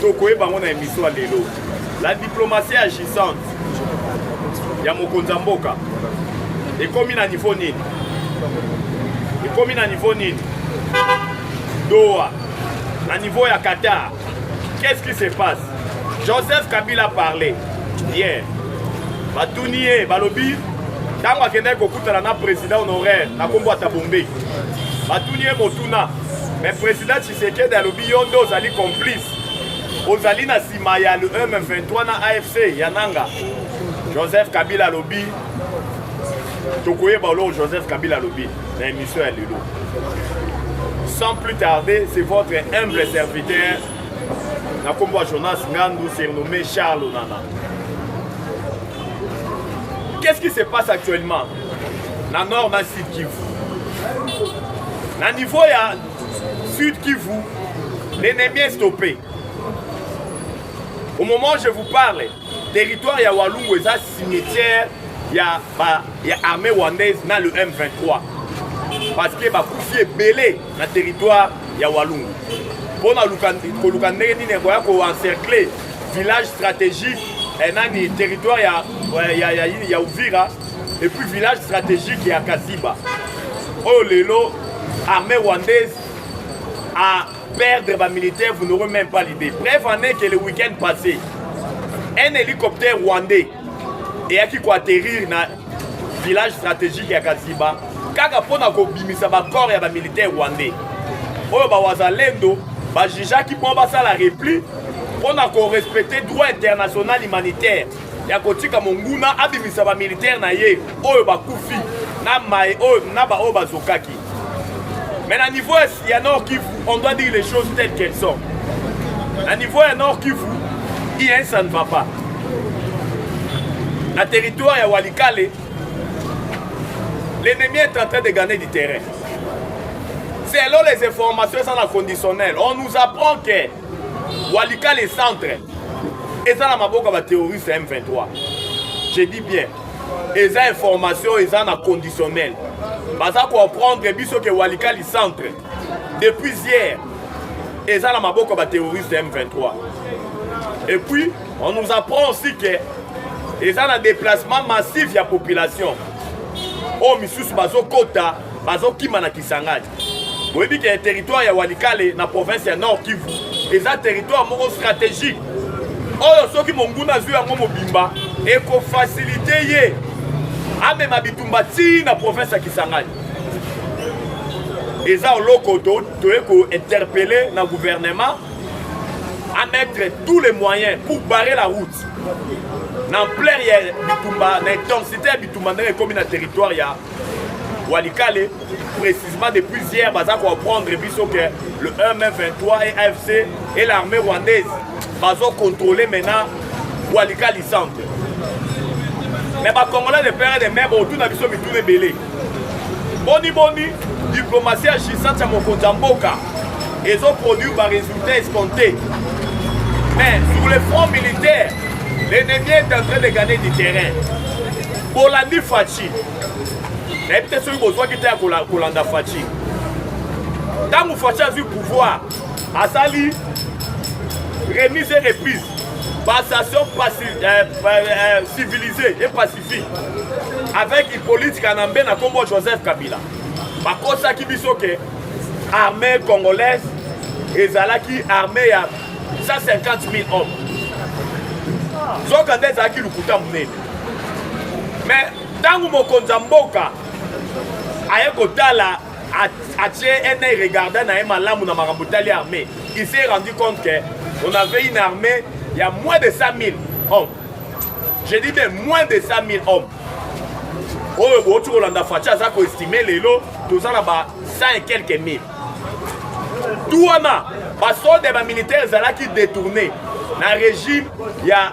tokoyeba yango na emission ya lelo la diplomatie agissante ya mokonzi ya mboka ekomi na niveau nini ekomi na niveau nini doha na niveau ya qatar qu'est-ce qui se passe joseph kabila parle hier batuni ye balobi ntango akendaki kokutana na président honoraire na nkombo ya tabombeki batuni ye motuna mais président Tshisekedi alobi yo nde ozali complice, ozali na nsima ya le M23 na AFC ya Nanga. Joseph Kabila alobi tokoyeba oloko Joseph Kabila alobi na emission ya lelo. Sans plus tarder, c'est votre humble serviteur na nkombo ya Jonas Ngandu surnommé Charles Onana. Qu'est-ce qui se passe actuellement na nord na sud Kivu? Na niveau ya Sud Kivu, l'ennemi est stoppé. Au moment où je vous parle, territoire ya Walungu eza cimetière ya ba ya armée rwandaise na le M23 parce que bakufi ebele na territoire ya Walungu mpo na koluka ndenge nini ekoya koencercle village stratégique eh, nani territoire ya, ya, ya, ya, ya Uvira Et puis village stratégique ya Kaziba. Oyo lelo armée rwandaise a perdre ba militaires, vous n'aurez même pas l'idée. Bref, en est que le week-end passé, un hélicoptère rwandais eyaki koatterrir na village stratégique ya Kaziba kaka mpo na kobimisa bacor ya bamilitaire rwandais oyo bawazalendo bajijaki mpo basala repli mpo na korespecte droit international humanitaire ya kotika monguna abimisa bamilitaire na ye oyo bakufi na mai oyo na baoyo bazokaki mais na niveau ya nord kivu on doit dire les choses telles qu'elles sont na niveau ya nord kivu rien ça ne va pas na territoire ya walikale l'ennemi est en train de gagner du terrain selon les informations eza na conditionnel on nous apprend que Walikale centre eza na maboko ya baterroriste ya M23 je dis bien eza information eza na conditionnel baza comprendre biso ke Walikali centre depuis hier eza na maboko ya baterroriste ya M23 et puis on nous apprend aussi ke eza na déplacement massif ya population oyo misusu bazokota bazokima na Kisangani boyebi ke territoire ya walikale na province ya nord kivu eza territoire moko stratégique oyo soki monguna azwi yango mobimba ekofasilite ye amema bitumba tii na province ya kisangani eza oloko toye kointerpele na gouvernement à mettre tous les moyens pour barrer la route na ampleur ya bitumba na intensité ya bitumba ndenge ekomi na territoire ya Walikale, précisément depuis hier, baza comprendre biso que le M23 et AFC et l'armée rwandaise bazo contrôler maintenant Walikale centre. Mais ba Congolais de père et de mère autour na biso mituna ebele. Boni boni diplomatie agissante ya mokonzi ya mboka ezo produire ba résultats escomptés. Mais sur le front militaire, l'ennemi est en train de gagner du terrain. Bolandi Fatshi nayebi te soki bozwaki te ya kolanda faci ntango faci azwi pouvoir asali remise et reprise passation euh, euh, civilisée et pacifique avec hippolyte kanambe na nkombo joseph kabila bakosaki biso ke armée congolaise ezalaki armée ya 150 000 hommes nzoka nde ezalaki lokuta monene me ntango mokonzi ya mboka aye kotala atie ena regarda na ye malamu na makambo tali armée il s'est rendu compte que on avait une armée ya moins de 100 000 hommes je dis bien moins de 100 000 hommes oyo bouti kolanda faci aza koestime lelo toza na ba 100 et quelques mille tu wana basode ya bamilitaire ezalaki détourné na régime ya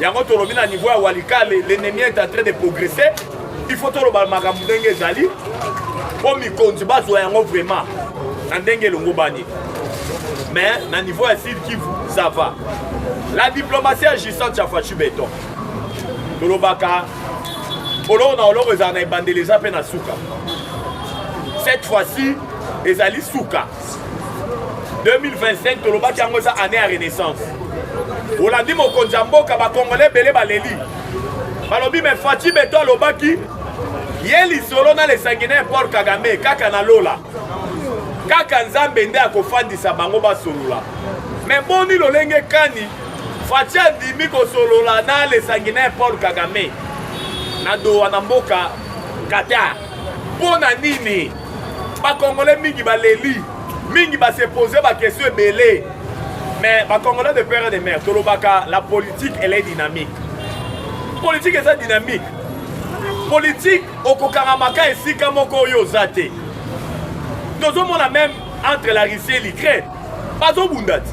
yango tolobi na niveau ya walikale l'ennemi est en train de progresser il faut toloba makambo ndenge ezali mpo mikonzi bazwa yango vraiment na ndenge elongobani mais na niveau ya sud kivu ça va la diplomatie agissante ya fachu beton tolobaka oloko na oloko ezala na ebandeli eza mpe na suka cette fois-ci ezali suka 2025 tolobaki yango eza année ya renaissance olandi mokonzi ya mboka bakongole ebele baleli balobi me faci beto alobaki ye lisolo na lesanguinaire paul kagame kaka na lola kaka nzambe nde akofandisa bango basolola me boni lolenge kani faci andimi kosolola na lesanguinaire paul kagame na dowa na mboka qatar mpo na nini bakongole mingi baleli mingi basepose bakestion ebele mais bakongole de père de mère tolobaka la politique elle est dynamique politique eza dynamique politique okokangamaka esika moko oyo oza te tozomona meme entre la russie et l'ukraine bazobunda te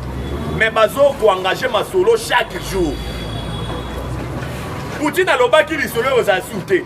mais bazokoengage masolo chaque jour poutine alobaki lisolo oyo ozali su te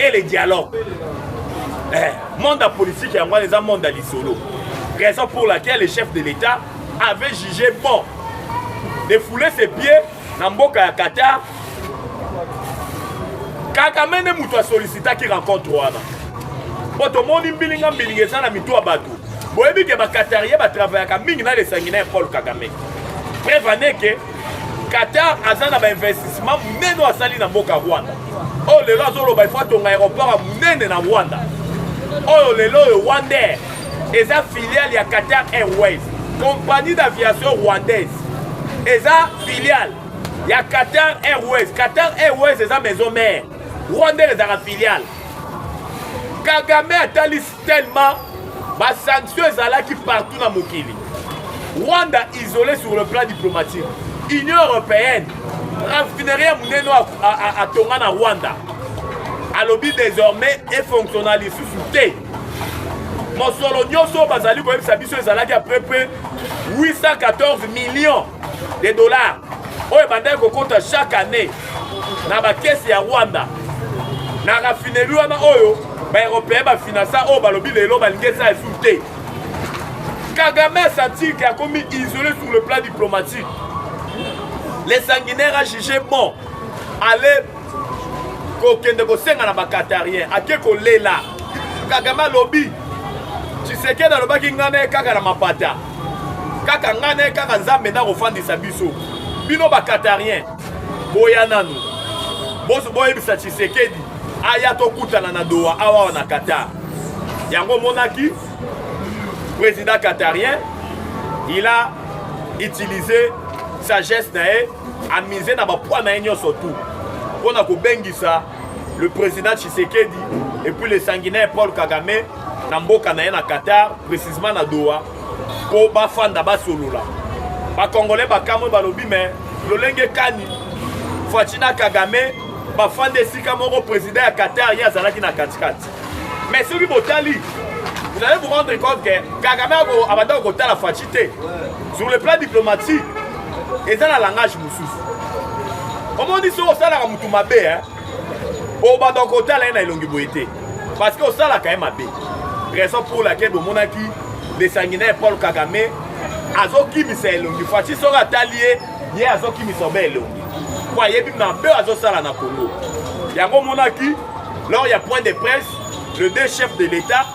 et le dialogue eh, monde ya politique yango wana eza monde ya lisolo raison pour laquelle le chef de l'état avait jugé bon de fouler ses pieds na mboka ya qatar kagame nde moto asolicitaki rencontre wana mpo tomoni mbilinga mbilinga eza na mitu ya bato boyebi ke baqatarie batravayaka mingi na lesangi na ya paul kagame preuve ane ke Qatar aza na ba investissement munene oyo asali na mboka Rwanda oyo oh, lelo azoloba ifo atonga aéroport ya munene na Rwanda oyo oh, lelo oyo Rwanda Air eza filiale ya Qatar Airways compagnie d'aviation rwandaise eza filiale ya Qatar Airways Qatar Airways eza maison mère Rwanda ezalaka filiale Kagame atalisi Tellement ba sanctions ezalaki partout na mokili. Rwanda isolé sur le plan diplomatique. Union européenne raffinerie ya monene atonga na Rwanda alobi désormais efonctionna lisusu te mosolo nyonso oyo bazali koyebisa biso ezalaki à peu près 814 millions de dollars oyo ebandaki kokota chaque année na bakesi ya rwanda na raffinerie wana oyo baeuropéen bafinansa oyo balobi lelo balingi esa esu te kagame asentir ke akomi isolé sur le plan diplomatique le sanguinaire a jugé bon ale kokende kosenga na bakatarien ake kolela kagame alobi tshisekedi alobaki ngai na ye kaka na mapata kaka ngai naye kaka nzambe nda kofandisa biso bino bakatarien boya nanu boyebisa tshisekedi aya tokutana na doha awawa na qatar yango omonaki président qatarien il a utilisé sagesse na ye amise na bapoi na ye nyonso tout mpo na kobengisa le président tshisekedi et puis le sanguinaire paul kagame na mboka na ye na Qatar precisement na Doha mpo bafanda basolola bakongole bakamwe balobi me lolenge kani Fatshi na Kagame bafanda esika moko president ya Qatar ye azalaki na katikati me soki botali vous allez vous rendre compte que Kagame abandaki kotala Fatshi te sur le plan diplomatique eza na langage mosusu omoni soki osalaka motu mabe bobanda kotala ye na elongi boye te parce que osalaka ye mabe raison pour laquelle bomonaki lesangi na ye paul kagame azokimisa elongi faci soki atali ye ye azokimisa obe elongi mpo ayebi mabe oyo azosala na congo yango omonaki lors ya point de presse le deux chef de l'état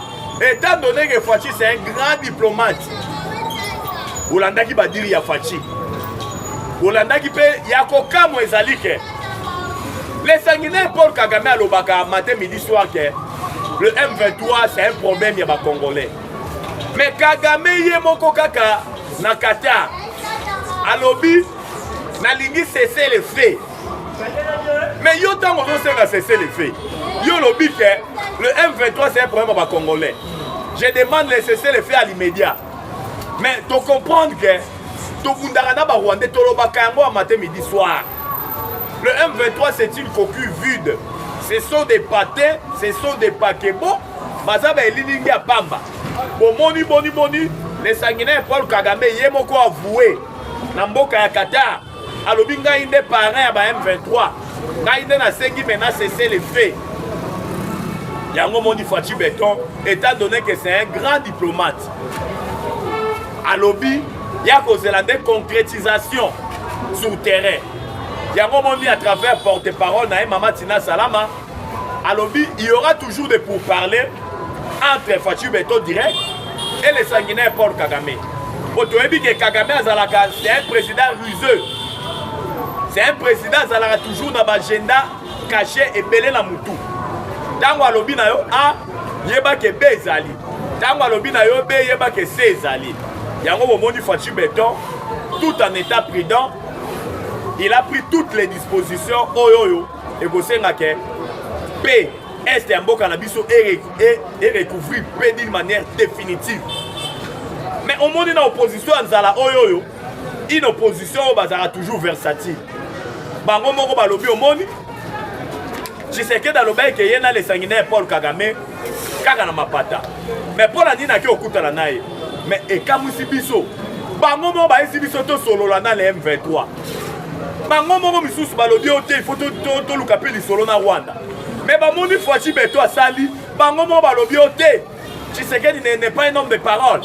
étant donné que faci c'est un grand diplomate bolandaki badiri ya faci bolandaki mpe ya kokamwa ezali ke Le sanguinaire Paul Kagame alobaka matin midi soir que le M23 c'est un problème ya ba Congolais. Mais Kagame ye moko kaka na Qatar alobi nalingi cesser le feu. Mais yo tango ozosenga cesser le feu. Yo lobi que le M23 c'est un problème ya ba Congolais. Je demande le cesser le feu à l'immédiat. mais to comprendre que tobundaka na barwandais tolobaka yango ya mate midi soir le m23 c'est une coquille vide ce sont des pate ce sont des pakebo baza baelilingi ya pamba bomoni boni boni lesanginai paul kagame ye moko avoue na mboka ya qatar alobi ngai nde parrain ya ba M23 ngai nde nasengi maintenant cesse le fait yango moni Fatshi Beton étant donné que c'est un grand diplomate alobi ya kozela nde concrétisation sur terrain yango moni à travers porte-parole na ye mama Tina Salama alobi il y aura toujours des pourparlers entre Fatshi Beton direct et le sanguinaire Paul Kagame po toyebi ke Kagame azalaka c'est un président ruseux c'est un président azalaka toujours na baagenda caché ebele na mutu ntango alobi na yo a yeba ke b ezali ntango alobi na yo b yeba ke c ezali yango bomoni Fatshi Beton tout en état prudent il a pris toutes les dispositions oyo oyo ekosenga ke pe est ya mboka na biso erecouvrir e, e pe d'une manière définitive mais omoni na opposition ya nzala oyo oyo une opposition oyo bazalaka toujours versatile bango moko balobi omoni tshisekedi alobaki ke ye na lesangi na ye paul kagame kaka na mapata mais mpo na nini ake okutana na ye mais ekamwisi biso bango moko bayesi biso tosolola na le m23 bango moko misusu balobi oyo te ifo toluka mpe lisolo na rwanda me bamoni faci beto asali bango moko balobi oyo te tshisekedi n'est pas un homme de parole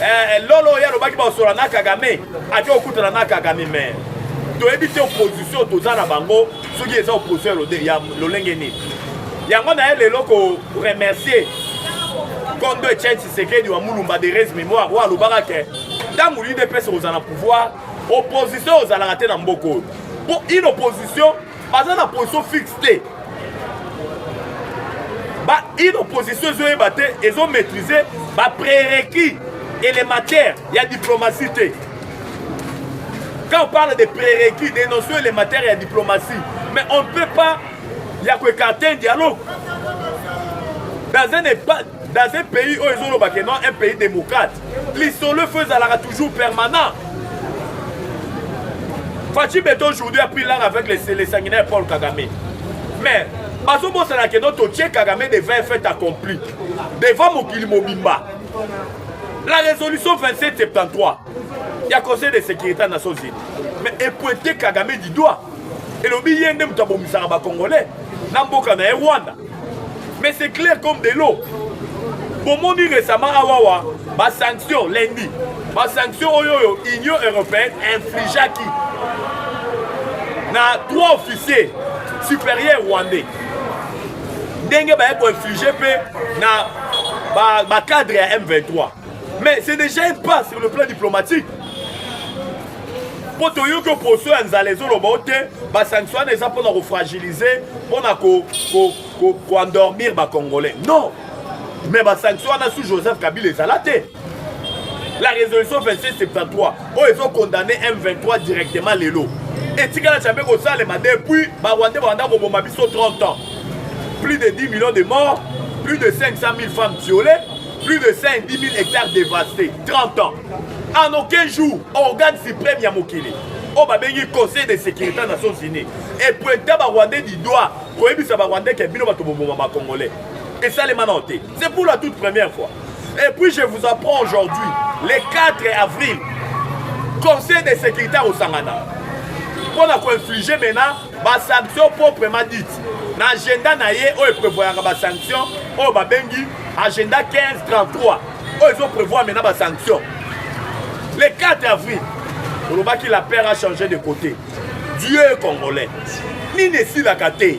eh, eh, lolo oyo alobaki baosola na kagame ake okutana na kagame me toyebi te opposition toza na bango soki eza opposition ya lolenge nini yango naye lelo koremercier kondo etienne tshisekedi wa mulumba de res mémoire oyo alobaka ke ntango udps kozala na pouvoir opposition ozalaka te na mboka oyo mpo une opposition baza na position fixe te ba une opposition ezoyeba te ezo maîtrise ba prérequis élémentaire ya diplomatie te quand on parle de prérequis des notions élémentaires ya diplomatie mais on ne peut pas ya koekarte un dialogue dans un, dans un pays oyo ezolobaka non un pays démocrate lisolo efo ezalaka toujours permanent faci bete aujourd'hui a pris langue avec le sanguinaire paul kagame mais bazobosana keno totie kagame devant un fait accompli devant mokili mobimba la résolution 2773 ya conseil de sécurité ya nations unis mais epointe kagame du doigt elobi ye nde moto abomisaka bacongolais na mboka na ye rwanda Mais c'est clair comme de l'eau. bomoni récemment awawa basanction lundi basanction oyo oyo union européenne infligeaki na trois officier supérieur rwandais ndenge baye koinflige mpe na bacadre ba ya m23 mais c'est déjà un pas sur le plan diplomatique mpo toyoki oposo ya nzala ezoloba o te basanction wana eza mpona kofragilize mpona koendormir ko, ko, ko bacongolais non mais basanction wana sous joseph kabila ezala te la résolution 2673 oyo ezokondamne m23 directement lelo etikala tya mpe kosalema depuis barwandais banda koboma biso 30 ans plus de 10 millions de morts plus de 500 000 femmes violées plus de 110 000 hectares dévastés 30 ans En aucun jour, organe suprême ya mokili oyo babengi conseil de sécurité ya nations unis epointa barwandais du doigt koyebisa barwandais ke bino bato boboma bacongolais esalema nao te c'est pour la toute première fois et puis je vous apprends aujourd'hui le 4 avril conseil de sécurité akosangana mpo na koinflige maintenant basanction proprement dite na agenda na ye oyo eprevoyaka basanction oyo babengi agenda 1533 oyo ezo prévoir maintenant ba sanction le 4 avril olobaki la père a changé de côté dieu est congolais nini esilaka te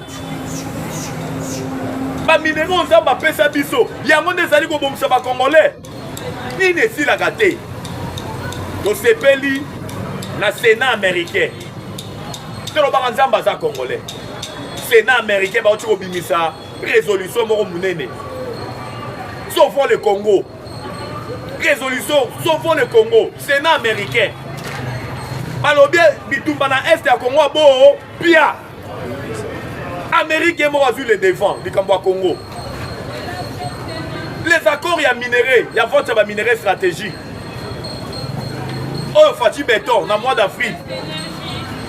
baminero nzambe apesa biso yango nde ezali kobongisa bacongolais nini esilaka te tosepeli na sénat américain tolobaka nzambe aza congolais sénat américain bauti kobimisa resolution moko monene sauvons le congo resolution sauvons le congo sénat américain balobi bitumba na est ya congo aboo pia amérique ye moko azwi le devant likambo ya congo les accords ya minerai ya vente ya baminerai stratégique oyo faci beton na mois d'avril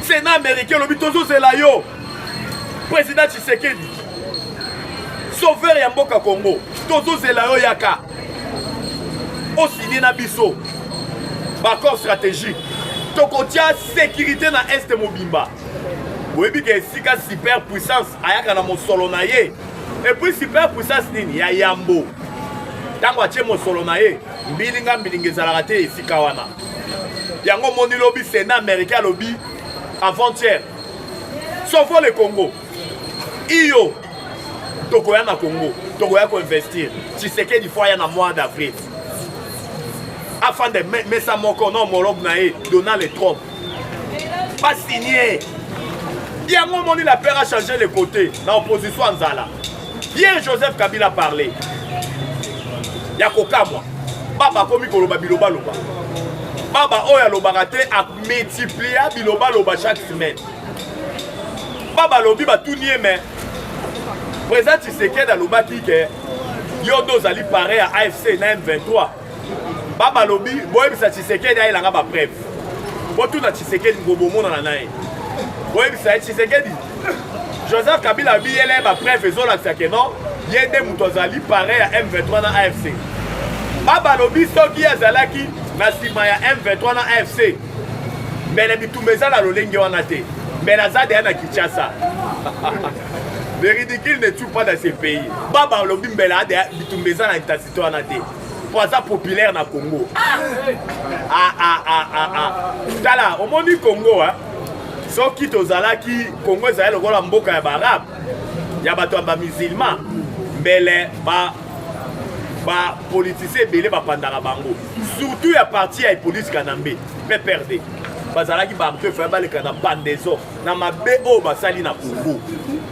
sénat américain olobi tozozela yo President Tshisekedi, sauveur ya mboka Congo, tozozela yo yaka osigne na biso baccord stratégique tokotia sécurité na este mobimba oyebi ke esika super puissance ayaka na mosolo na ye epuis super puissance nini ya yambo ntango atie mosolo na ye mbilinga mbilinga ezalaka te esika wana yango omoni lobi sena américain alobi avant-hier Sauvons le Congo. Iyo, tokoya na Congo, tokoya koinvestir. Tshisekedi fo aya na mois d'avril. Afande mesa moko na homologue na ye Donald Trump. Pas signé. Yango omoni la père a changé le côté na opposition ya nzala. Bien Joseph Kabila parle ya kokamwa baba akomi koloba bilobaloba baba oyo alobaka te amultiplia bilobaloba chaque semaine baba alobi batuni ye me président tshisekedi alobaki ke yo nde ozali pare ya afc na m23 baba lobi boyebisa tshisekedi ayelanga bapreve botuna tshisekedi bobomonana na ye boyebisa ye tshisekedi joseph kabila abi yela ye bapreve ezolakisa ke non ye nde moto azali pare ya m23 na afc baba lobi soki azalaki na nsima ya m23 na afc mbele bitumba eza na lolenge wana te mbele aza deya na kinshasa le ridicule ne tue pas dans ce pays baba lobi mbele adeya bitumba eza na to wana te po aza populaire na congo ah! Ah, ah, ah, ah, ah. tala omoni congo hein? soki tozalaki congo ezali lokola mboka ya baarabe ya bato ya bamusilma mbele ba bapolitisien ebele bapandaka bango surtout ya parti ya epolisi kanambe pprd bazalaki bato efaya baleka na bandeso na mabe oyo basali na congo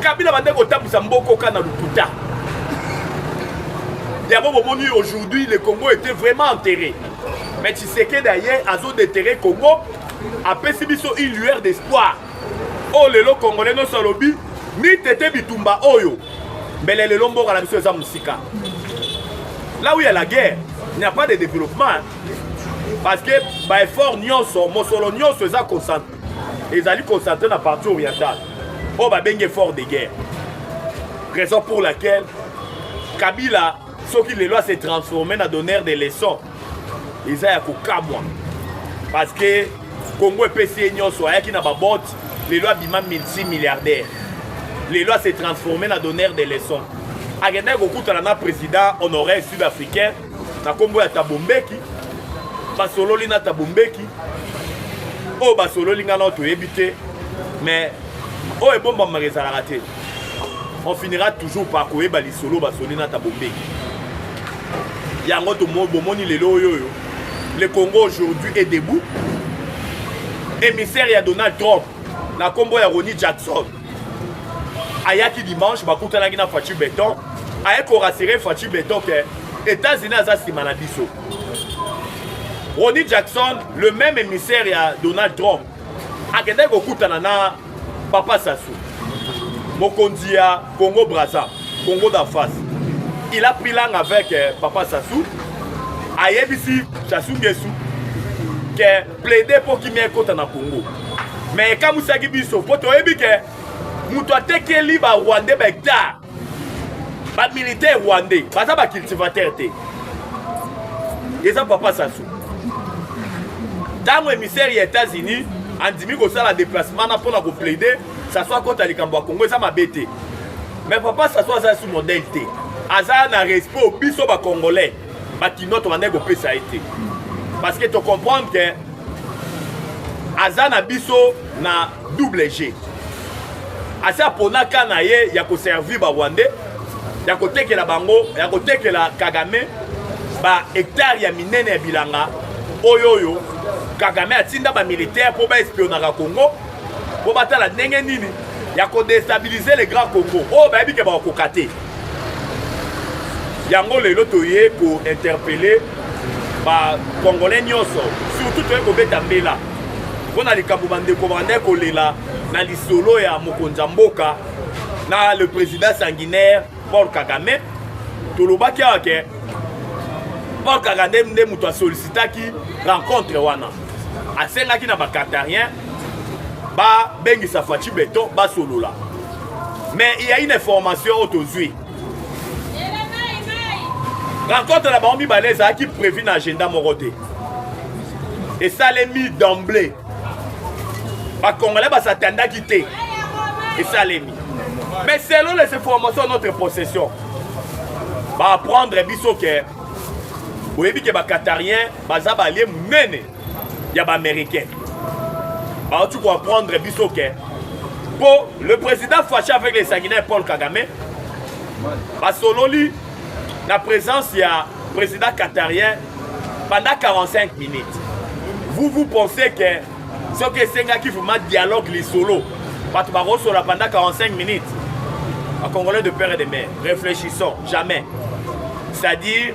kabila bandaki kotambwisa mbokoka na lokuta yango bomoni aujourd'hui le congo était vraiment enterré mais tshisekedi aye azodeterre congo apesi biso une lueur d'espoir oyo oh, lelo congolais nyonso alobi mitete bitumba oyo mbele lelo mboka na biso eza mosika là où il y a la guerre il n'y a pas de développement parce que baeffort nyonso mosolo nyonso eza concentre ezali concentre na partie orientale oyo babengi effort de guerre raison pour laquelle kabila soki lelo ase transforme na donneur de leçon eza ya kokamwa parce que congo epesi ye nyonso ayaki na babote lelo abima multimilliardaire lelo ase transforme na donneur de leçon akendaki kokutana na président honoraire sud africain na nkombo ya Thabo Mbeki basololi na Thabo Mbeki oyo basololi ngai nao toyebi te mais oyo ebombamaka ezalaka te on finira toujours par koyeba lisolo basoli na Thabo Mbeki yango bomoni lelo oyo oyo le Congo aujourd'hui est debout émissaire ya Donald Trump na nkombo ya Ronnie Jackson ayaki dimanche bakutanaki na faci beton aye korasire faci beton ke états-unis aza nsima na biso roni jackson le même émissaire ya donald trump akendaki kokutana na papa sasu mokonzi ya congo braza congo da face il a pris langue avec euh, papa sasu ayebisi sasu ngesu ke plede mpo kimia ekota na congo me ekamwisaki biso mpo toyebi ke moto atekeli barwandais bahectare bamilitaire rwandais baza bacultivateur te eza papa sasu ntango emissaire ya états-unis andimi kosala déplacement na mpona koplaide sasu akota likambo ya congo eza mabe te mais papa sasu aza su modèle te aza na respect biso bacongolais bakinois tobandaki kopesa ye te parce que tocomprendre ke aza na biso na double g asi aponaka na ye ya koservir barwandais ya kotekela bango ya kotekela kagame bahectare ya minene ya bilanga oyo oyo kagame atinda bamilitaire mpo baespionaka congo mpo batala ndenge nini ya kodestabilize le grand congo oyo bayebi ke bakokoka te yango lelo toye ko interpeller ba congolais nyonso surtout toye kobeta mbela mpo na likambo bandeko bandai kolela na lisolo ya mokonzi ya mboka na le président sanguinaire paul kagame tolobaki awa ke paul kagame nde moto asolicitaki rencontre wana asengaki na bacatarien babengisa faci beton basolola mais il y a une information oyo tozwi rencontre na bango mibale ezalaki prévu na agenda moko te esalemi d'emblée bakongolais basatandaki te esalemi mais selon les informations notre possession baapprendre biso ke boyebi ke bakatarien baza balie monene ya ba américain bauti koapprendre biso ke mpo le président fache avec les sanguinaire paul kagame basololi na présence ya président qatarien pendant 45 minutes vous vous pensez que soki esengaki vraiment dialogue lisolo bato bakosola pendant 45 minutes bacongolais de père et de mère réfléchissons jamais c'est-à-dire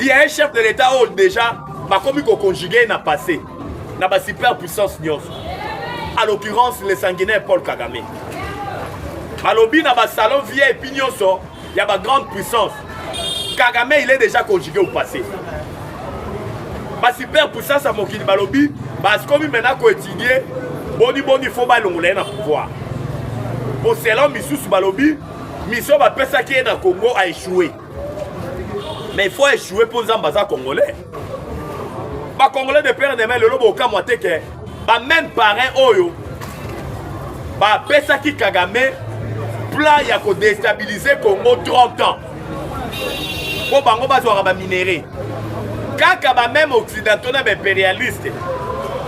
Il y a un chef de l'État oyo déjà bakomi koconjugue na passé na ba super puissance nyonso à l'occurrence le sanguinaire Paul Kagame balobi na basalon vip nyonso ya ba grande puissance Kagame il est déjà conjugué au passé ba super puissance ya mokili balobi bakomi maintenant koétudie boni boni faut balongola ye na pouvoir mpo selon misusu balobi misio bapesaki ye na congo a échoué mais il faut échouer mpo nzambe aza congolais bacongolais de père de mai lelo bokamwa te ke bameme parrain oyo bapesaki kagame plan ya kodestabilize congo 30 ans mpo bango bazwaka baminere kaka bameme occidentaux na baimperialiste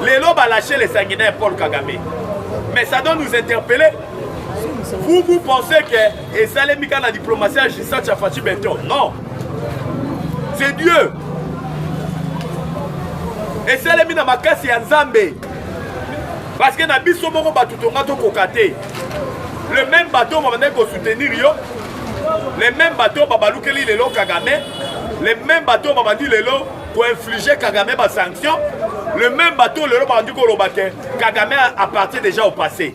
lelo balache le sanguinaire paul kagame mais ça doit nous interpeller vous vous pensez que esalemi kaka na diplomatie ya gisat ya faci beton non c'est dieu esalemi na makasi ya nzambe parce que na biso moko bato tonga tokoka te le même bateau babandaki kosoutenir yo le même bateau babalukeli lelo kagame le même bateau babandi lelo koinflige kagame basanction le même bateau lelo babandi koloba te kagame appartient déjà au passé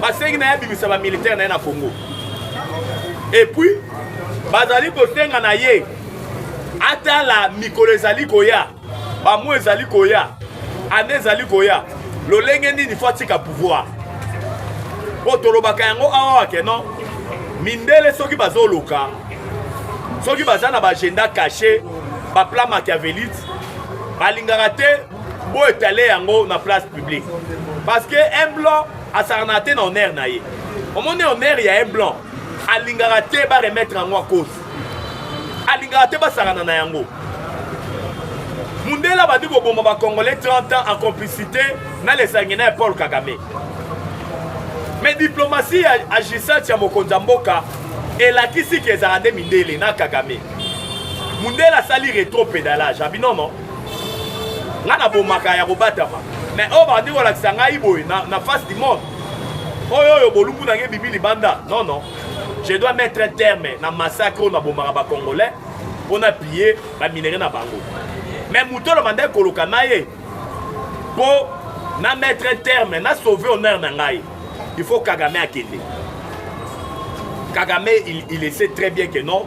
basengi na ye abimisa bamilitaire na ye na congo epuis bazali kosenga na ye atala mikolo ezali koya bamwa ezali koya ane ezali koya lolenge nini fo atika pouvoir mpo tolobaka yango awa ke non mindele soki bazoluka soki baza na baagenda cache baplan machiavelite balingaka te Bo étaler yango na place publique. Parce que un blanc asakana te na honneur na ye. Omoni honneur ya un blanc alingaka te ba remettre yango à cause. Alingaka te basakana na yango. Mundela bandi koboma ba Congolais 30 ans en complicité na les sanguinaires Paul Kagame. Mais diplomatie agissante ya mokonzi ya mboka elakisi ke ezala nde mindele na Kagame. Mundela asali retro pedalage abinono nga na bomaka ya kobatama mais oyo bandi kolakisa ngai boye na, na face du monde oyo oyo bolumbu na ngai ebimi libanda non non je dois mettre un terme na massacre oyo nabomaka bacongolais mpo na pille baminere na bango mais moto oyo nabandaki koloka na ye mpo na mettre un terme na sauve honneur na ngai il faut kagame akende kagame il, il essaie très bien que non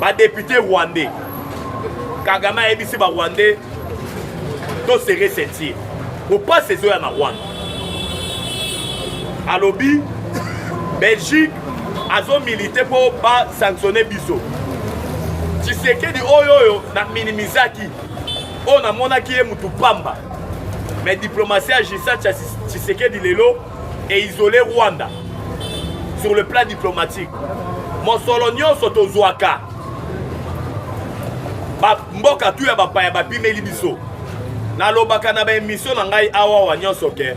ba député rwandais kagame ayebisi ba rwandais to serre ceinture kopasi ezoya na rwanda alobi belgique azomilite mpo basanctionne biso tshisekedi oyo oyo na minimizaki oyo namonaki ye motu pamba me diplomatie ya justin tshisekedi lelo et isoler Rwanda sur le plan diplomatique. Mosolo nyonso tozwaka ba mboka tu ya bapaya bapimeli biso. Nalobaka na ba emission na ngai awa wa nyonso ke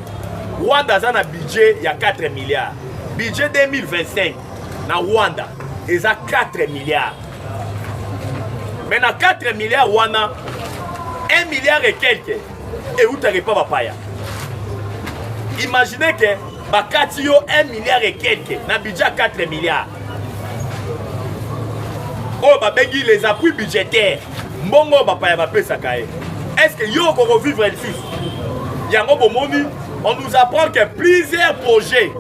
Rwanda aza na budget ya 4 milliards. Budget 2025 na Rwanda eza 4 milliards. Mais na 4 milliards wana 1 milliard et quelques eutaka epa bapaya imagine ke bakati yo 1 milliard et quelque na budget 4 milliards oyo oh, babengi les appuis budgétaires mbongo oyo bapaya bapesaka ye est ce que yo okoki kovivre lisusu yango bomoni on nous apprend que plusieurs projets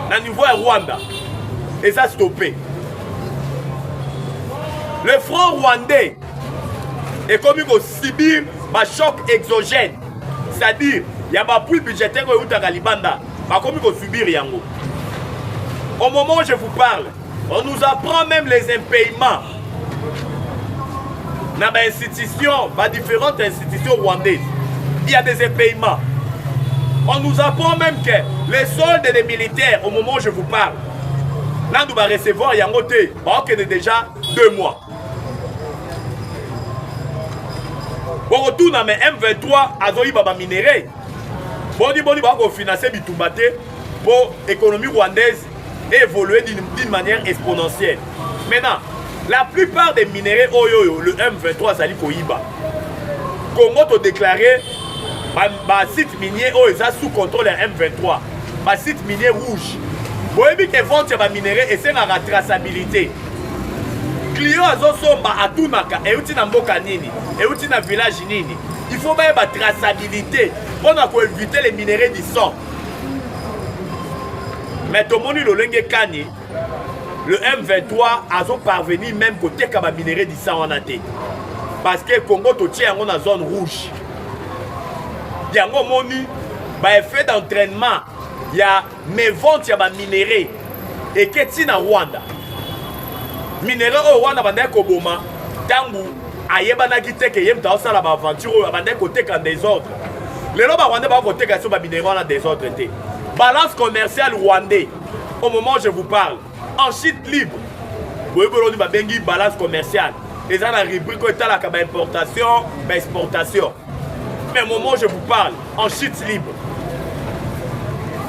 na niveau ya rwanda eza stoppe le front rwandais ekomi ko subir ba choc exogène c'est-à-dire ya ba puits budgétaire oyo eutaka libanda bakomi ko subir yango au moment où je vous parle on nous apprend même les impayements na ba institutions ba différentes institutions rwandaises il y a des impayements on nous apprend même que les soldes des militaires au moment où je vous parle nanu ba recevoir yango te baokende déjà deux mois bokotuna me m23 azoyiba baminerai boni boni bakofinanse bitumba te mpo économie rwandaise évolue d'une manière exponentielle maintenant la plupart des minerais oyo oyo le m23 azali koyiba congo todeklare basite minier oyo eza sous contrôle ya m23 basite minier rouge boyebi ke vente ya baminerai esengaka traçabilité client azosomba atunaka euti na mboka nini euti na village nini il faut bayeba traçabilité mpo na koevite le minerai du sang mais tomoni lolenge kani le m23 azoparvenir même koteka baminerai du sang wana te parce que congo totie yango na zone rouge yango omoni baeffet d'entraînement ya mais vente ya ba minerais eke ti na rwanda minerais oyo wana bandaki koboma ntango ayebanaki te ke ye moto aosala baaventure oyo abandaki koteka desordre lelo barwandais bako koteka biso baminerais wana desordre te balance commerciale rwandais au moment je vous parle En chute libre, boyebi oloni babengi balance commerciale. Eza na rubrique oyo etalaka ba importation, ba exportation. Mais moment je vous parle, en chute libre,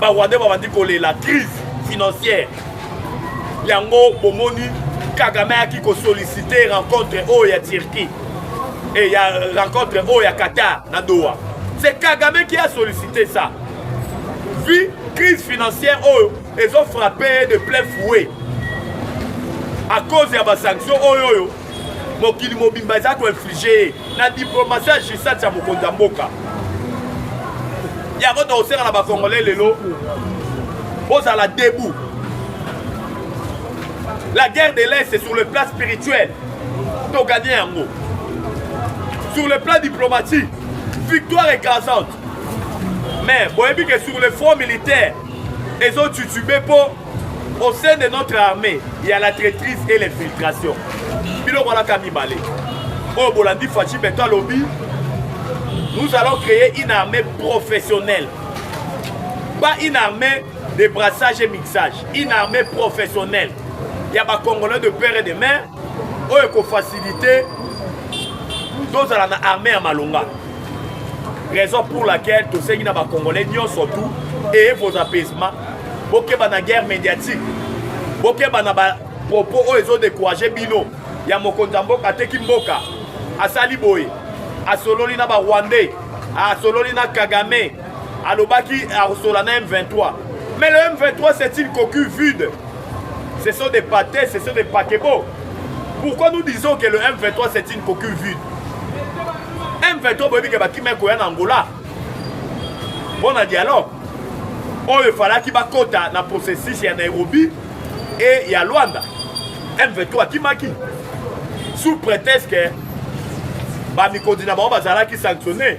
ba Rwandais babandi kolela crise financière. Yango bomoni Kagame ayaki kosollicite rencontre oyo ya Turquie et ya rencontre oyo ya Qatar na Doha. C'est Kagame qui a sollicité ça. Vu crise financière oyo ezo frappe ye de plein fouet à cause ya basanction oyo oyo mokili mobimba eza koinflige ye na diplomasi ya gisat ya mokonzi ya mboka yango tokosenga na bacongolais lelo bozala debout la guerre de l'est sur le plan spirituel toganye yango sur le plan diplomatique victoire écrasante Mais boyebi que sur le front militaire ezo tutube po au sein de notre armée il y a la traîtrise et l'infiltration biloko alaka mibale oyo bolandi faci beto alobi nous allons créer une armée professionnelle pas une armée de brassage et mixage une armée professionnelle ya bacongolais de père et de mère oyo ekofacilite tozala na armée ya malonga raison pour laquelle tosengi na bacongolais nyonso tout et vos apaisements bokeba na guerre médiatique bokeba na bapropos oyo ezodécourage bino ya mokonzi ya mboka ateki mboka asali boye asololi na barwandais asololi na kagame alobaki akosola na m23 mais le m23 c'est une coquille vide ce sont des pâtés ce sont des paquebots Pourquoi nous disons que le M23 c'est une coquille vide M23 boyebi ke bakima ekoya na Angola mpo na dialogue oyo efalaki bakota na processus ya Nairobi e ya Luanda M23 akimaki sous prétexte que bamikonzi na bango bazalaki sanctionne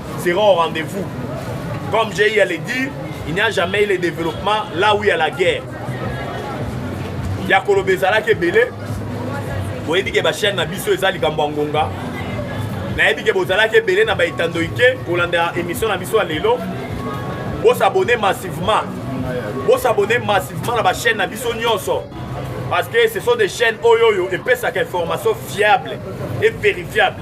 sera au rendez-vous. Comme j'ai eu à le dire, il n'y a jamais eu le développement là où il y a la guerre. ya koloba ezalaki ebele boyebi ke bachaine na biso eza likambo ya ngonga nayebi ke bozalaki ebele na baetando ike kolanda émission na biso ya lelo bosabone massivement bosabone massivement na bachaine na biso nyonso parce que ce sont des chaînes oyo oyo epesaka information fiable et vérifiable